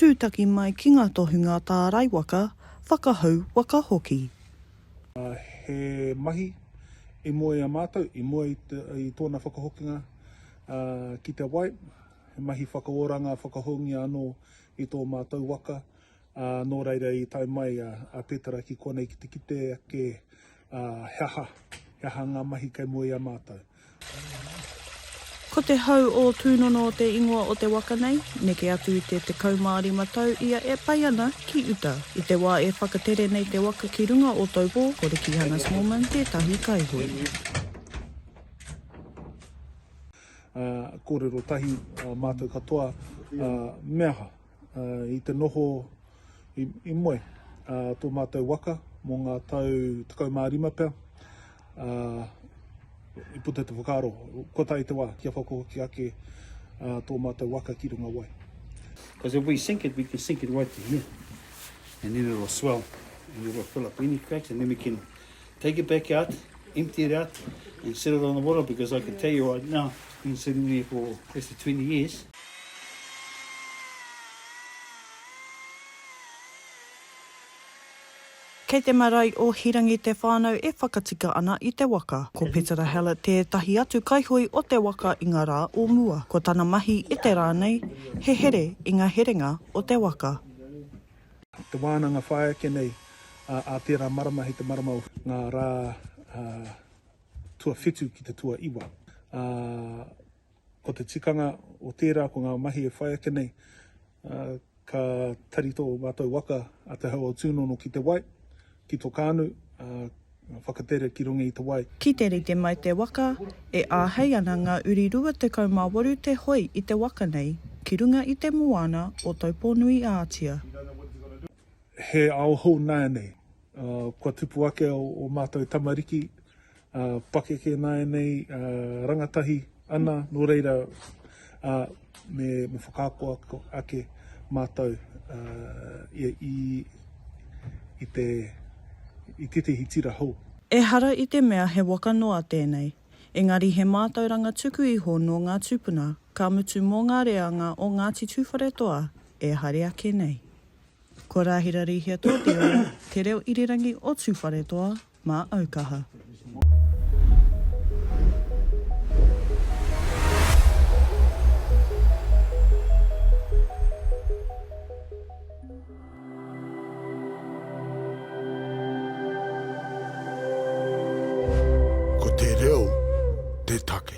Tūtaki mai ki ngā tohunga tārai waka, whakahou waka hoki. He mahi i mua i a mātou, i mua i tōna whakahokinga ki te wai, he mahi whakaoranga, whakahoungia anō i tō mātou waka, nō reira i tae mai a Petera ki konei ki te kite ake he aha, he aha ngā mahi kei mua i a mātou. Ko te hau o Tūnono te ingoa o te waka nei, neke atu i te 15 tau ia e pai ana ki uta. I te wā e whakatere nei te waka ki runga o Taupō, ko Riki Hannah-Smallman tētahi kaihoe. Kōrero tahi, mātou katoa, me aha? I te noho i moe tō mātou waka mō ngā tau 15 pea, i puta te whakaaro, kua tae te wā kia whakahoki ake tō mātou waka ki runga wai. Because if we sink it, we can sink it right to here and then it'll swell and it'll fill up any cracks and then we can Take it back out, empty it out and set it on the water because I can tell you right now, I've been sitting there for close to 20 years, Kei te marae o Hirangi te whānau e whakatika ana i te waka. Ko Petera Hallett tētahi atu kaihui o te waka i ngā rā o mua. Ko tana mahi i te rā nei, he here i ngā herenga o te waka. Te wānanga whāia ake nei a tērā marama hei te marama o ngā rā tuawhitu ki te tuaiwa. Ko te tikanga o tērā ko ngā mahi e whai ake nei ka tari tō mātou waka a Te Hau-o-Tūnono ki te wai, Ki to kānu, ā, whakatere ki runga i te wai. Ki te rite mai te waka, e āhei ana ngā uri 28 te hoi i te waka nei, ki runga i te moana o Taupōnui-ā-Atia. He ao hou nāianei, ā, kua tupu ake ō mātou tamariki, Ā, pakeke nā ēnei rangatahi ana, nō reira, ā, me, me whakaako ake mātou, ā, i, i te, i tētehi tira hou. Ehara i te mea he waka noa tēnei, engari he mātauranga tuku iho nō ngā tūpuna, ka mutu mō ngā reanga o Ngāti Tūwharetoa e haere ake nei. Ko Rāhira Rīhia Tōtiro, Te Reo Irirangi o Tūwharetoa. Mā au kaha. Ko te reo te take.